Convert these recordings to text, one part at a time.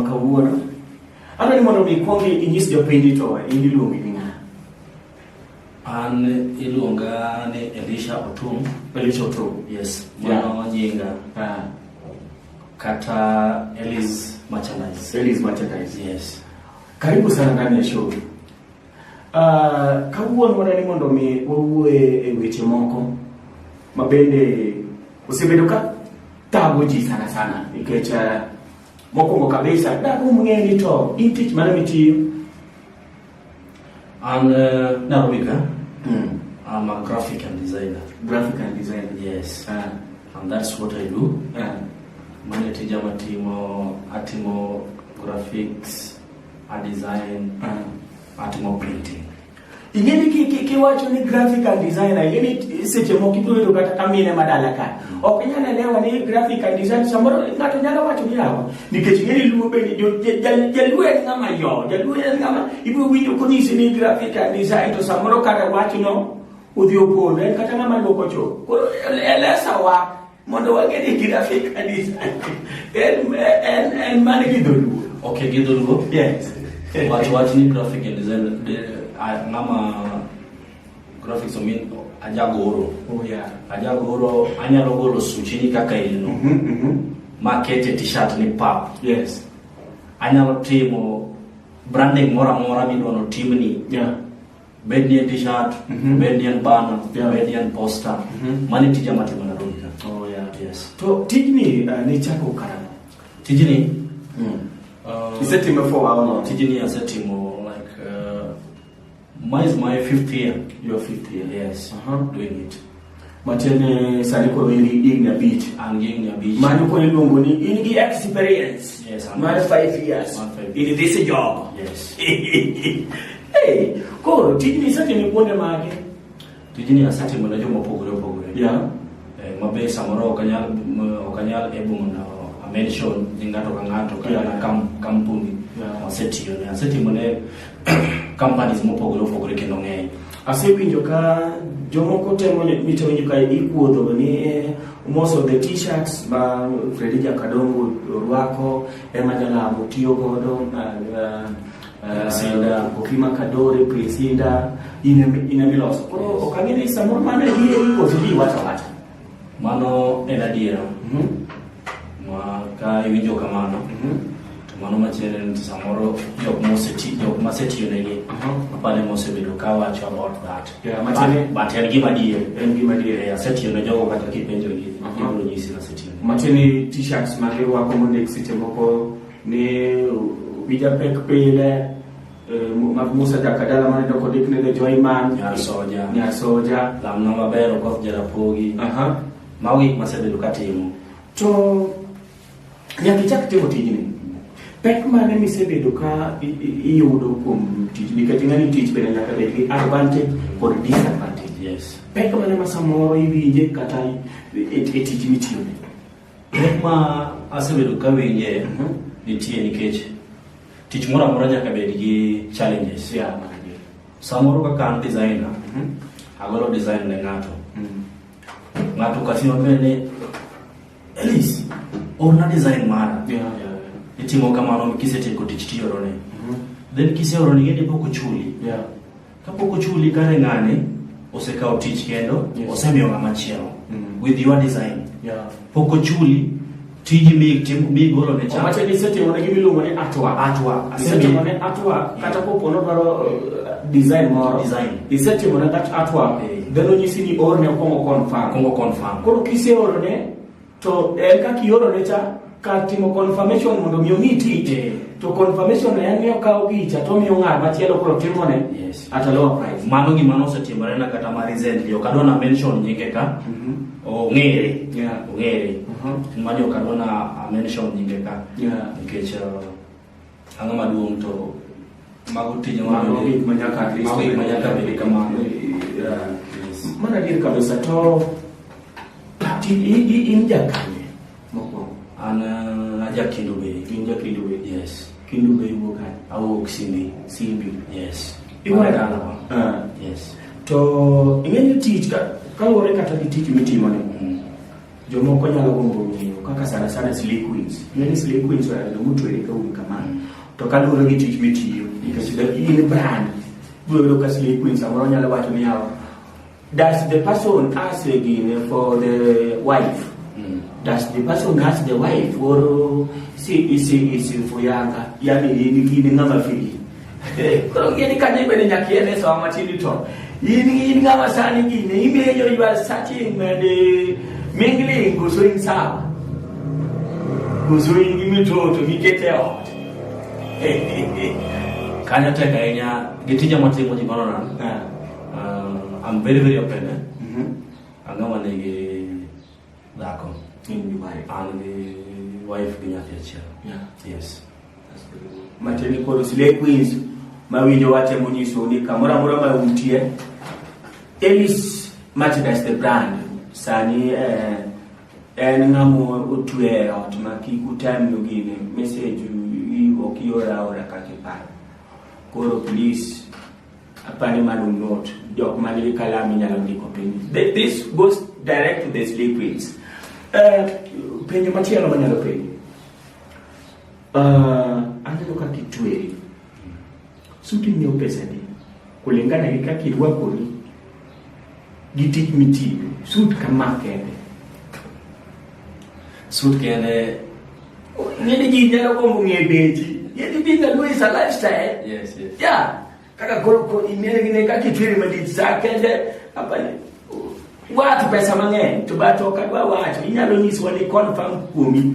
Kawuono. Adwa ni mondo mi kwong inyis jopiny to in iluongi ni ng'a? An iluonga ni Elisha Otum. Elisha Otum. Yes. Mano nyinga. Ah. Kata Elis Merchandise. Elis Merchandise. Yes. Karibu sana ndani ya show. Uh, kawuono wadwa ni mondo mi wawuoe e weche moko ma bende osebedo ka tago ji sana sana nikech uh, Mokwongo kabisa darum ng'e ni to in tich mane mitiyo? An uh, Nairobi ka. Mm. I'm a graphic and designer. Graphic and designer. Yes. Uh. And that's what I do. Uh. Mane tija matimo atimo graphics, a design, uh. atimo printing. Ingeni ki ki ki wacho ni graphical designer ingeni seche moko ibiro yudo kata kamine madala ka. Ok nyalo elewa ni graphical design samoro ng'ato nyalo wacho ni yawa nikech ingeni luo be ni jaluo en ng'ama yo, jaluo en ng'ama ibiro winjo konyisi ni graphical design to samoro kata wachno udhi opondo en kata ng'ama luoko cho. Koro elesawa Mondo wang'e ni girafi kanisa en en en man gi dholuo. Okay, gi dholuo. Yes. Watu watu ni graphic and design ngama graphics o min ajagoro. Oh yeah. Ajagoro anyalo golo suchi ni kaka ilno. Mhm. Mm mhm. Mm makete t-shirt ni pap. Yes. Anyalo timo branding mora mora mi dono timni. Yeah. bed ni en t-shirt Mhm. bed ni en banner Yeah. bed ni en poster Mhm. mani tija matimo na roika Oh, yeah. yes To tijni uh, ne chako karang'o? tijini uh, Isetime for how long? tijini asetimo like uh, mine is my fifth year Your fifth year. yes Uh-huh. doing it Matiende sani koro in gi higni abich. An gi higni abich. Mano koro iluongo ni in gi experience. Yes, I'm Mar five years. Mar five years. In this job. Yes. hey, koro tijni isetimo kuonde mage? Tijni asetimo ne joma opogore opogore. Yeah. Eh, mabe samoro ok anyal ok anyal able mondo amention ni ng'ato ka ng'ato kata yeah. kampuni yeah. asetiyone asetimo ne companies mopogore opogore kendo ng'eny. Asewinjo ka jomoko temo mitewinjo ka ikuodho ni eh, most of the t-shirts ma Fredi Jakadongo orwako ema jalamo tiyo godo uh, uh, Sinda uh, Okima Kadore Prince Inda ina miloso. Koro okang'e ni samoro mano e gire ikoso ji wacha wacha. Mano en adiera. Mhm. Ma ka iwinjo kamano, mhm. to mano machielo en samoro jok moseti jok masetiyo negi. Mhm. Apane mosebedo ka wacho about that. Yeah, machane but en gima adier. En gima adier. Yeah, asetiyo ne jogo kata kipenjo gi. Gibro nyisi na setiyo. Machane t-shirts ma girwako mondik seche moko ni wija pek pile mag Musa Jaka dala mane doko dik ne jo Iman Nyar Soja Nyar Soja lam no maber okoth jarapogi aha mago gik masebedo katimo to nyaka ichak timo tijni pek mane misebedo ka i- i- iyudo kuom tich nikech ing'ani tich bende nyaka bed gi advantage kod disadvantage yes pek mane ma samoro iwinje kata e e- e tich mitiyo Pek ma asebedo ka winje mhm. nitie nikech tich moro amora nyaka bed gi challenges. Yeah, Samoro kaka an designer, mhm. agolo design ne ng'ato. Mhm. Ng'ato kasino bende Elis, orna design mara. Yeah, yeah. Itimo kamano kisetieko tich tiorone. Then kiseorone yende pok ochuli. Yeah. Kapok ochuli kare ng'ani osekawo tich kendo yes. osemiyo ng'ama chielo mm. with your design yeah. pok ochuli tiji mi tim mi golo ne chama wacho ni seti wona gi miluongo ni atwa atwa seti wona atwa kata ko pono dwaro uh, design moro design iseti wona that atwa then onyisi ni orne kongo confirm kongo confirm koro kiseorone To en eh, kaka ioro ne cha kar timo confirmation mondo mi omi tich yeah. to confirmation en miyo kawo picha to miyo ng'at machielo koro timo ne yes. at a lower price. Mano gima nosetimore na kata ma recently ok adwa na mention nyinge ka mm -hmm. ong'ere yeah. ong'ere uh -huh. ma jo kadwa na mention nyinge ka yeah. nikech uh, Ang'o maduong' to mago tije mago gik ma nyaka Kristo mago gik ma nyaka bed kamano. Mana adier kabisa to in jakanye mokwongo. An uh, ajakindo be. In jakindo be. Yes. Kindo be iwuok kanye? Awuok Simbi. Simbi. Yes. Iwuok dalawa. Ah. Yes. To ing'eyo tich ka kaluwore kata gi tich mitimo ni. Mm. Jomoko nyalo gombo ng'eyo kaka sana sana slay queens. Ng'eni slay queens ohero joma otwere ka um kamano. To kaluwore gi tich mitiyo, nikech in brand, biro yudo ka slay queens samoro nyalo wacho ni yawa, does the person ask again for the wife? Mm. Does the person ask the wife or see, see, see, for yanga? Yani, ni ng'ama fili. Koro ng'e ni kanyo ibende nyaka iel e sawa matin to in in ng'ama sani gine imenyo you are searching and eh, mingling koso in sawa koso in gi mitoto miket e ot kanyo tek ahinya gi tija matimo ji mano nan Ah, Uh, I'm very very open eh? mhm. ang'ama nigi Dhako. In gi wife. An gi wife gi nyathi achiel. Yeah. Yes. That's good. Matini koro Slay Queens mawinjo watemo nyiso ni kamoro amora ma untie Elis Merchandise the brand sani eh, en ng'amo otwe e ot ma kik utemnu gini message ok iora ora kaka iparo koro please Apani mano not jok man gi kalam inyalo ndiko piny. This goes direct to the slave queens. Uh, penjo machielo manyalo penjo. Uh, aneno kaka itweri. Suti nyiewo pesa di. Kulingana gi kaka irwakori gi tich mitiyo sut kama kende sut kende ng'eni ji nyalo gombo ng'e dechi yeti bi na luisa lifestyle yes yes ya kaka koro ko imere gine ka kitwiri madit sa kende apani watu pesa mang'eny to bato kadwa wacho inyalo nyiswa ni confirm kuomi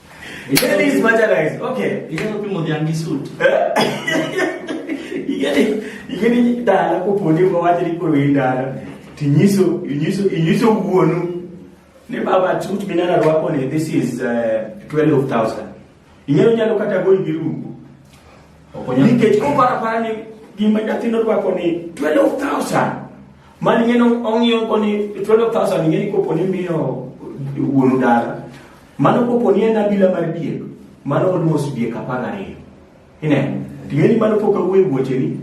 Igeni is marginalized. Okay. Igeni opi modhiangi suit. Igeni igeni dala koponi kwa wacho ni koro in dala. Tinyiso inyiso inyiso wuonu. Ni baba suit minana rwako ni this is uh, eh, 12000. Ing'eyo nyalo kata go ibirugo. Okonya. Nikech kopara para ni gima nyathino rwako ni 12000. Mani ng'eno ong'iyo koni 12000 ing'eni koponi miyo wuonu dala. Mano kopo ni en abila mar diek, mano oluos diek apar gariyo. Ineno? Ting'eni mano pok awuoyo wuocheni.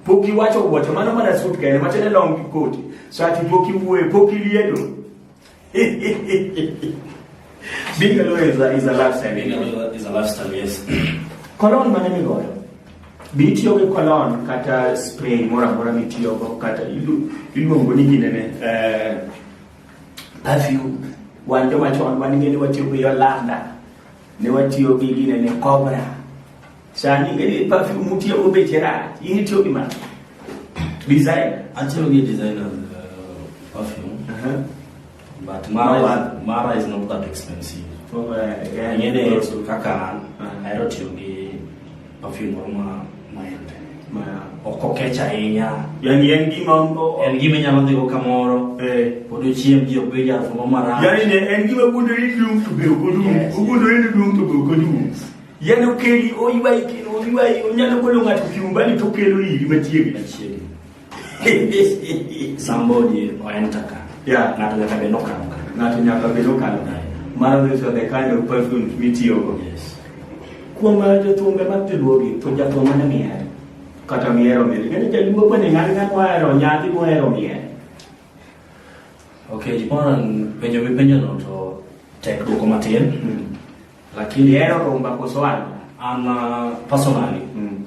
Pok iwacho wuoche, mano mana sut kende, macho ne long gi koti. So ati pok iwuoyo, pok iliedo. Being a lawyer is a, is a lifestyle. Being a lawyer is a lifestyle, yes. Kolon mane migoyo? Be itiyo gi kolon kata spray moro amora mitiyogo kata iluongo ni ginene? Uh, perfume wan joma chon wan ing'e ni watiyo gi yolanda ne watiyo gi gine ne cobra sani ing'e ni perfume mutiyo go beche rach in itiyo gi mano design atiyo gi design of uh, perfume uh -huh. but mara, no, is, mara is not that expensive oh, uh, yeah, ing'e ni kaka an uh -huh. ahero tiyo gi Perfume moro ma maembe. Ma ok okech ahinya. Yani en gima en gima nyalo dhigo kamoro. Eh. Pod ochiem ji ok bed jal moro marach. Yani ne en gima gundore ni duong' to be ok odum. Ogundore ni duong' to be ok odum. Yani okeli oywayi kendo oywayi onyalo golo ng'ato kiumbani to okelo iri machiegni. Machiegni. Somebody enter ka. Yeah. Ng'ato nyaka be nokalo ka. Ng'ato nyaka be nokalo ka. Mano is the kind of perfume mitiyogo. Yes. Kuom uh, jothumbe mag joluogi to jathum mane mihero? Kata mihero mili. Ng'eyo jaluo bende ng'ani ng'ani mohero nyadhi mohero mihero. Okay, jipona penjo mipenjo no to tek dwoko matin. Mm. Lakini hero rumba kosoano. An uh, personally. Mm.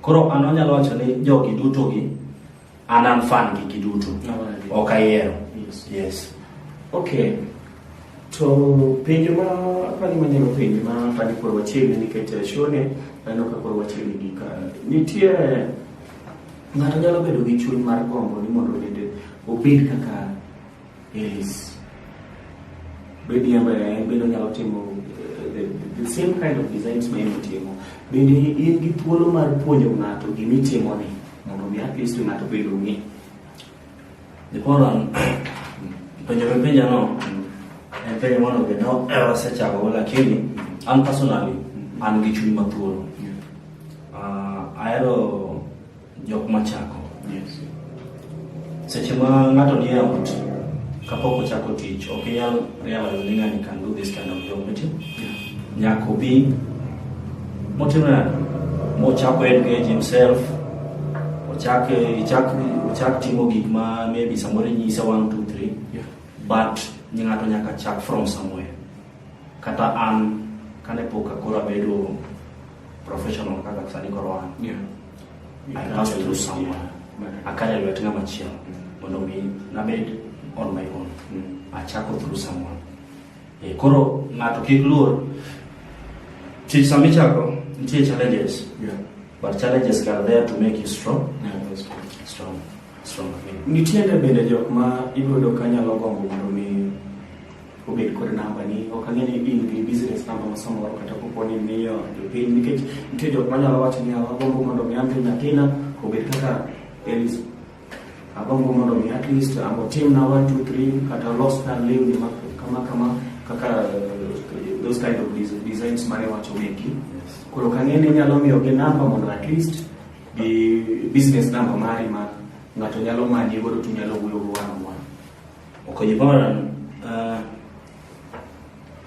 Koro an onyalo wacho ni jogi duto gi an an fan gi giduto. Ok ayiero. Yes. yes. Okay. To penjo ma apani manyalo penjo ma apani koro wachiegni nikech eh, shone aneno ka koro wachiegni gi ka nitie ng'ato nyalo bedo gi chuny mar gombo ni mondo bende obed kaka Yes. Bedi ambaye en bende onyalo timo eh, the, the same kind of designs ma en timo. Bende in gi thuolo mar puonjo ng'ato gima itimo ni mondo mi at least ng'ato bed ong'e. The problem penjo me penja no en penjo mano be no ewa sechako go lakini an personally an gi chuny mathuolo. Ah, ahero Jok machako. Yes. Seche ma ng'ato nie ot kapok ochako tich ok inyal realize ni ng'ani can do this kind of job miti. Nyaka obi motimo nade? Mochako engage himself ochak ichak ochak timo gik ma maybe samoro inyise 1 2 3 yeah. but ng'ato nyaka chak from somewhere kata an kane pok akoro abedo professional kaka sani koro an yeah. I passed through someone. I carried lwet ng'ama chielo mondo mi nabed on my own. Achako through someone. Eh, koro ng'ato kik luor. Tich sama ichako nitie challenges. Yeah. But challenges are there to make you strong. Yeah, that's true. Strong. Strong. Nitiere bende jok ma iyudo ka nyalo gombo mondo mi obed kod namba ni ok ang'e ni in gi business namba ma samoro kata kopo ni miyo jopiny nikech nitie jok manyalo wacho ni agombo mondo mi andhi nyathina obed kaka Elis agombo mondo mi at least amo timna one two three kata los kar lewni ma kama kama kaka eh, those kind of designs mane wacho meki koro kang'e ni nyalo miyo gi namba mondo at least gi business namba mari ma ng'ato nyalo manye godo to nyalo wuoyo go one on one Okonyo bana uh,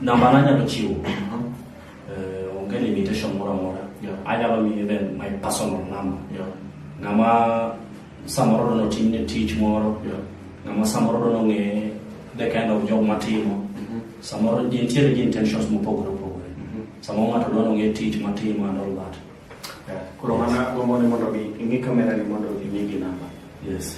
namba nanyalo chiwo uh, onge limitation moro amora Yeah. anyalo miyo even my personal number Yeah. ng'ama samoro dono timne tich moro Yeah. ng'ama samoro dono ng'e the kind of job matimo Mhm. samoro ji nitiere gi intentions mopogore opogore Mhm. samoro ng'ato dono ng'e tich matimo and all that Yeah. Koro mana gombo ni mondo gi ing'i kamera ni mondo ing'i gi namba. yes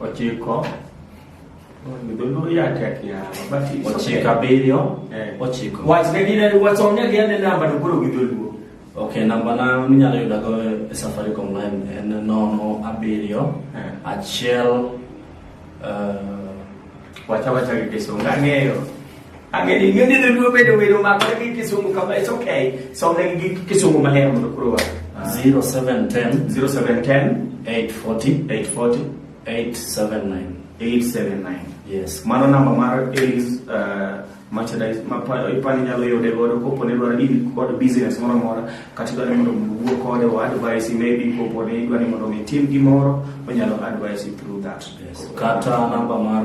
ochiko dholuo yatek ochiko abiriyo eh. ochiko wachne gine wachone gine namba to koro gi dholuo ok namba na minyalo yudago e safaricom line en nono abiriyo eh. achiel eh, wacha wacha gi kisungu ang'eyo Angeni ngeni ne luo bedo welo ma kore gi kisumu kama it's okay. So ne gi kisumu ma hero mondo kuro. 0710 0710 840 840 879 879. Yes. Mano namba mar Aries uh, merchandise ma ipani nyalo yude godo kopo ne dwaro deal kod business moro mora kata idwaro ni mondo wuo kode o advice maybe kopo ne idwaro ni mondo mi tim gimoro onyalo advice through that. Yes. Kata namba mar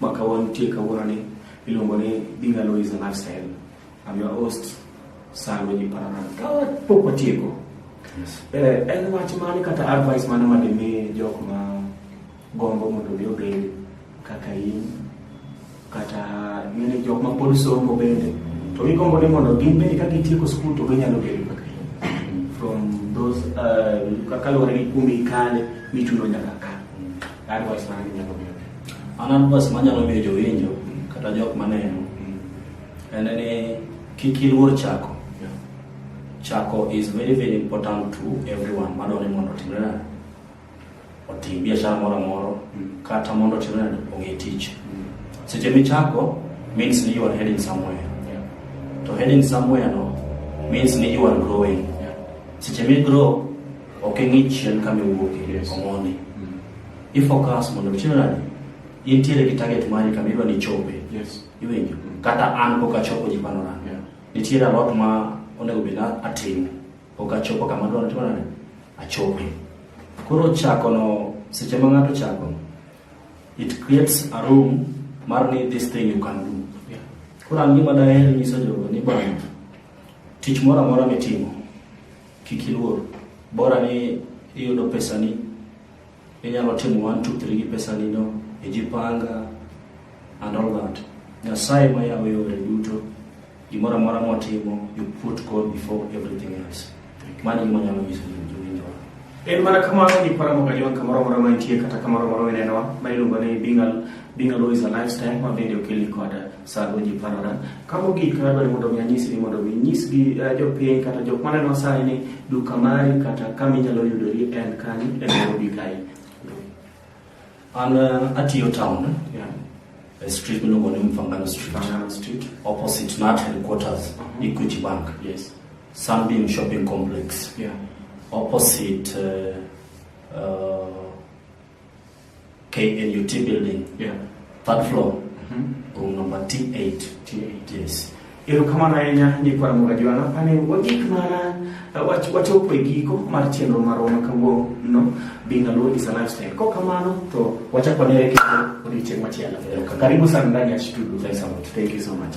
ma kawantie kawuononi iluongo ni Being Alone is a Lifestyle. I'm your host, Sir Wendy Paranan. Kawa pok watieko. Yes. Eh, en wach mane kata advice mane ma dimi jok ma gombo mondo mi obed kaka in kata ng'ene jok ma pod somo bende to gigombo ni mondo gin bende ka gitieko skul to ginyalo bedo kaka in from those uh, kaluwore gi kuma ikale michuno nyaka Advice mane inyalo miyo? An advice manyalo miyo jowinjo kata jok maneno en ni kik iluor chako. Chako is very very important to everyone madwaro ni mondo otimre nade? Otim biashara moro amoro kata mondo otimre nade? Ong'e tich. Seche michako means ni you are heading somewhere. To heading somewhere no means ni you are growing. Seche mi grow Ok ing'i chien kama iwuoke yes. omoni. Mm. I focus mondo ichino nani? Intiere gi target mari kama idwa ni chope. Yes. Iwinjo? Mm. Kata an pok achopo ji pano nani. Yeah. Nitiere a lot ma onego bed atimo. Pok achopo kama adwa timo nani? Achope. Koro chako no seche ma ng'ato chako it creates a room mar ni this thing you can do. Yeah. Koro an gima daher nyiso jogo ni bwana tich moro amora mitimo Kik iluor. Bora ni iyudo pesani, inyalo timo one two three gi pesani no, ijipanga and all that. Nyasaye ma yawo yore duto, gimoro amora motimo, you put God before everything else. Mano gima nyalo nyiso ni jowinjo. En mana kamano ni para moga jon kamoro moro mantie kata kamoro moro minenowa ma iluongo ni being a, being a law is a lifestyle ma bende okeli kod Sago ji parona. Ka mogik na dwaro mondo mi anyisi ni mondo mi nyis gi uh, eh, jopiny kata jok ma neno sai ni duka mari kata kama inyalo yudori en kani e Nairobi kae. An uh, atiyo town. Yeah. A street miluongo ni Mfangano Street. Mfangano Street. Opposite Nat headquarters, uh mhm. -huh. Equity Bank. Yes. Sunbeam Shopping Complex. Yeah. Opposite uh, uh, KNUT building. Yeah. Third floor. Mm -hmm. Room number T8. T8. Yes. Erokamano ahinya ni kwa Mungu ajuana pane wagik mana uh, wachopo e giko mar chenro marwa ma kawuono being a low is a lifestyle. Kwa kamano to wachako ne kendo odiochieng' machielo. Karibu sana ndani ya studio. Thank you so much.